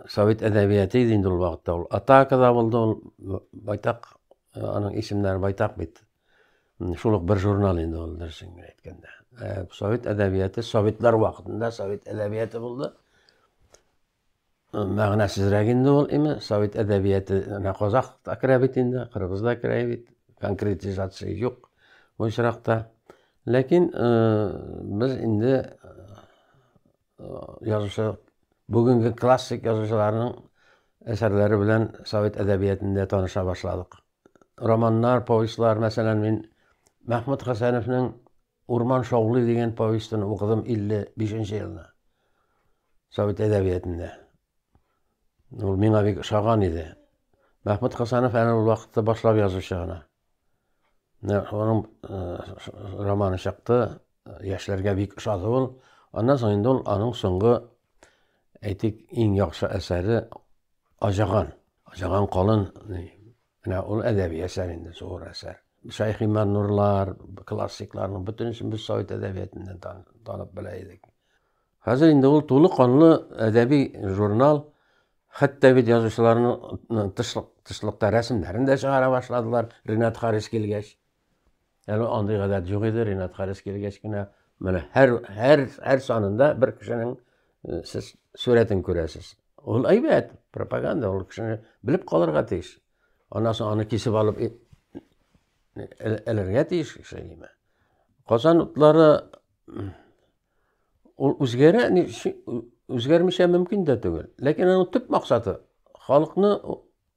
Совет әдәбияты иде инде ул вакытта ул. Атака да булды ул байтак, э, аның исемнәре байтак бит. Шул ук бер журнал инде ул дөресен генә әйткәндә. Э, совет әдәбияты, советлар вакытында совет әдәбияты булды. Мәгънәсезрәк инде ул, име, совет әдәбияте менә казах та керә бит инде, кыргыз да керә бит, конкретизация юк бу очракта. Ләкин без инде язучы бүгенге классик язучыларның әсәрләре белән совет әдәбиятендә таныша башладык. Романнар, повестьлар, мәсәлән, мин Мәхмүт Хәсәновның Урман шаулый дигән повестен укыдым 55 нче елны. Совет әдәбиятында. Ул миңа бик ошаган иде. Мәхмүт Хасанов әле ул вакытта башлап язучы гына. Аның э, романы чыкты, яшьләргә бик ошады ул. Аннан соң инде ул аның соңгы әйтик иң яхшы әсәре Ажаган. Ажаган колын Менә ул әдәби әсәр инде, зур әсәр. Шәйх Иман Нурлар, классикларның бөтенесен без совет әдәбиятыннан танып белә идек. Хәзер инде ул тулы канлы әдәби журнал, хәтта бит язучыларның тышлык, тышлыкта рәсемнәрен дә чыгара башладылар, Ренат Харис килгәч. Әле андый гадәт юк иде, Ринат Харис килгәч кенә менә һәр һәр һәр санында бер кешенең э, сез сурәтен күрәсез. Ул әйбәт, пропаганда, ул кешене белеп калырга тиеш. Аннан соң аны кисеп алып э, элергә тиеш кеше ниме. Казан утлары ул үзгәрә, үзгәрмичә мөмкин дә түгел. Ләкин аның төп максаты халыкны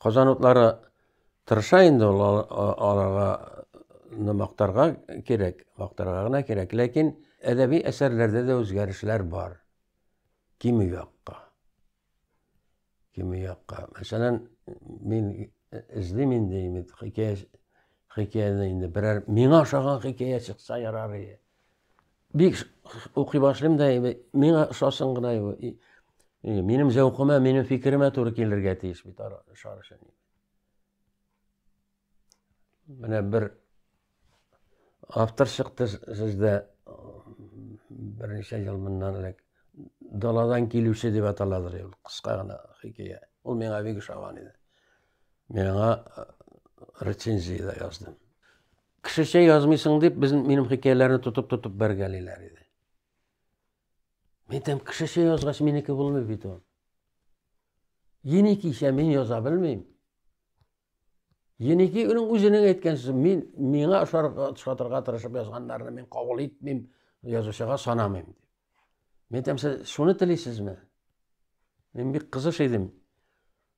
Казан утлары тырыша инде ул аларга мактарга кирәк, мактарга гына кирәк, ләкин әдәби әсәрләрдә дә үзгәрешләр бар. Кими якка. Кими якка. Мәсәлән, мин эзлим инде инде хикәя хикәяне инде берәр миңа ошаган хикәя чыкса ярар иде. Бик укый башлыйм да, миңа ошасын гына, минем зәвкыма, минем фикеремә туры килергә тиеш бит шар өчен. Менә бер автор чыкты сездә берничә ел моннан элек. Даладан килүче дип аталадыр ул, кыска гына хикәя. Ул миңа бик ошаган иде. Миңа рецензия да яздым. Кешечә язмыйсың дип, без минем хикәяләрне тотып-тотып бәргәлиләр иде. Мин тәм кешечә язгач, минеке булмый бит ул. Енекичә мин яза белмим. Енеки уның үзенең әйткән сүзе, мин миңа ошатырга тырышып язганнарны мин кабул итмим, язучыга санамыйм дип. Мин тәм сез шуны телисезме? Мин бик кызыш идем.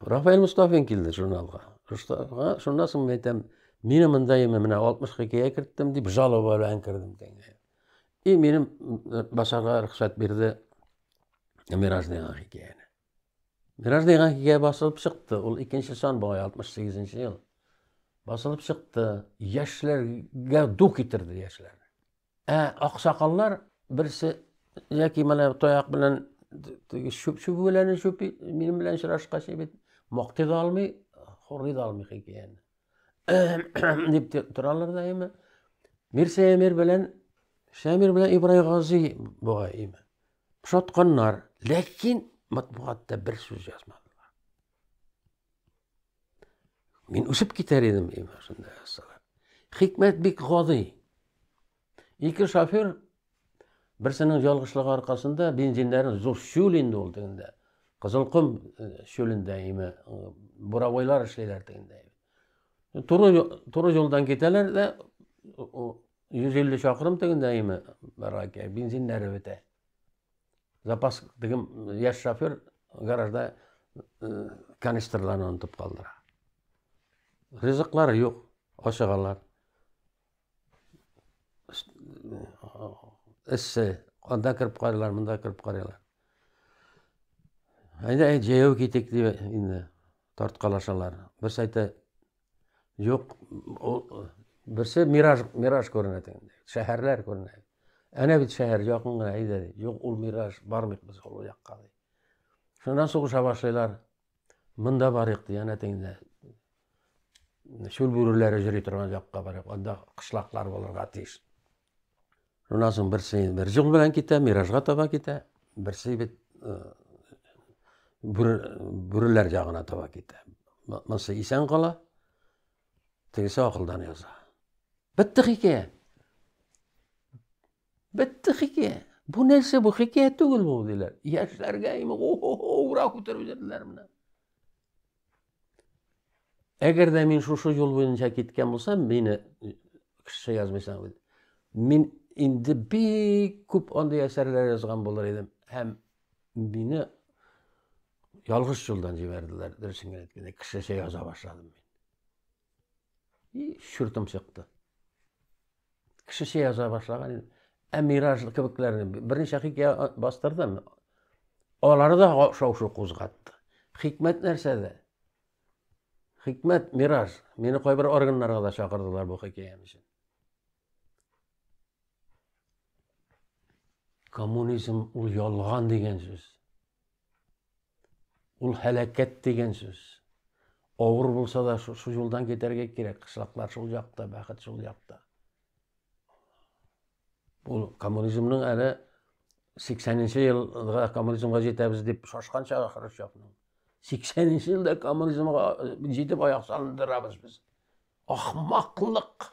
Рафаэль Мостафин килде журналга. Мостафига, шуннан соң мин әйтәм, мин монда яме менә 60 хикәя керттем дип жалоба белән кердем кәңгә. И минем э, басарга рөхсәт бирде Мираж дигән хикәяне. Мираж дигән хикәя басылып чыкты. Ул икенче сан бугай 68 ел. Басылып чыкты. Яшьләргә ду китерде яшьләр. Ә аксакаллар берсе яки менә таяк белән теге чүп чүбүләне чүпи, минем белән очрашкач бит мактый да алмый, хорый да алмый хикәяне. дип торалар да име. Мир Сәмир белән Шәмир белән Ибрай Гази бугай име. Шатканнар, ләкин матбугатта бер сүз язмады. Мин үсеп китәр идем, дим, шунда ясала. Хикмәт бик гади. Ике шофер берсенең ялгышлыгы аркасында бензиннәрен зур шүл инде ул тегендә. Кызылком э, шүлендә име, э, буровойлар эшлиләр тегендә. Туры туры юлдан китәләр дә 150 чакрым тегендә име, бензиннәре бетә. Запас дигән яшь шофер гаражда э, канистрларны онытып калдыра. Ризыклар юк, ашыгалар. Эссе, анда кереп карыйлар, монда кереп карыйлар. Әйдә, әй, җәяү китик дип инде тарткалашалар. Бер сәйте Юк, берсе мираж, мираж күренә дигән. Шәһәрләр күренә. Әнә бит шәһәр якын гына әйдә. Юк, ул мираж, бармыйк без ул якка. Шуннан сугыша башлыйлар. Монда барыйк ди, әнә тегендә. Шул бүреләре җөри торган якка барыйк. Анда кышлаклар булырга тиеш. Шуннан соң берсе бер җон белән китә, миражга таба китә, берсе бит э, бүреләр ягына таба китә. Монысы исән кала, тегесе акылдан яза. Бетте хикәя. Бетте хикәя. Бу нәрсә бу хикәя түгел бу диләр. Яшьләргә имә, о-о-о, ура күтәреп җирләр менә. Әгәр дә мин шушы юл буенча киткән булсам, мине кеше язмыйсың бит. Мин инде бик күп андый әсәрләр язган булыр идем. Һәм мине ялгыш юлдан җибәрделәр, дөресен генә әйткәндә, кешечә яза башладым мин. И чуртым чыкты. кешечә яза башлаган инде. Ә Мираж кебекләрне берничә хикәя бастырдым. Алары да шау-шу кузгатты. Хикмәт нәрсәдә? Хикмәт Мираж. Мине кайбер органнарга да чакырдылар бу хикәям өчен. Коммунизм ул ялган дигән сүз. Ул һәлакәт дигән сүз. Авыр булса да шул юлдан китәргә кирәк. Кышлаклар шул якта, бәхет шул якта. Ул коммунизмның әле 80-нче елга коммунизмга җитәбез дип шашкан чагы Хрущевның. 80-нче елда коммунизмга җитеп аяк салындырабыз без. Ахмаклык!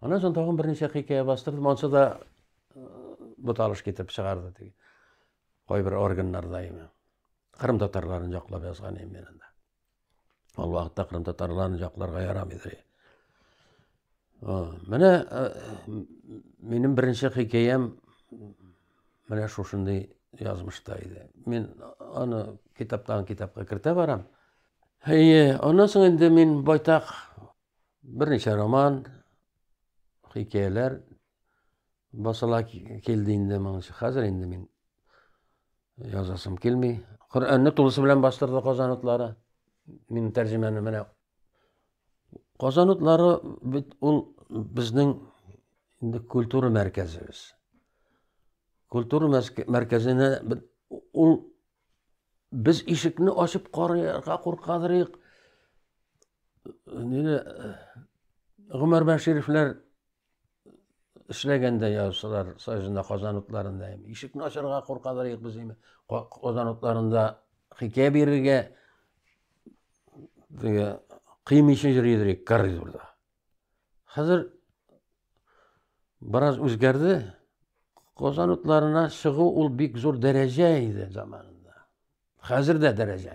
Аннан соң тагын берничә хикәя бастырдым, ансы да буталыш китереп чыгарды теге. Кайбер органнарда имя. Кырым татарларын яклап язган имя анда. Ул вакытта кырым татарларын якларга ярамый иде. Менә минем беренче хикәям менә шушындый язмышта иде. Мин аны китаптан китапка кертә барам. Әйе, аннан соң инде мин байтак Берничә роман, хикәяләр басыла килде инде моңчы. Хәзер инде мин язасым килми. Коръәнне тулысы белән бастырды Казан утлары. Мин тәрҗемәне менә Казан утлары бит ул безнең инде культура мәркәзебез. Культура мәркәзенә ул Без ишекне ачып карарга куркадырыйк. Нигә Гомәр Бәшировлар эшләгәндә я шулар Саҗында Казан утларында ишекне ачарга куркадырыйк без инде. Казан утларында хикәя бирергә диге кыймыйча йөридерик коридорда. Хәзер бераз үзгәрде. Казан утларына чыгу ул бик зур дәрәҗә иде заманында. Хәзер дә дәрәҗә.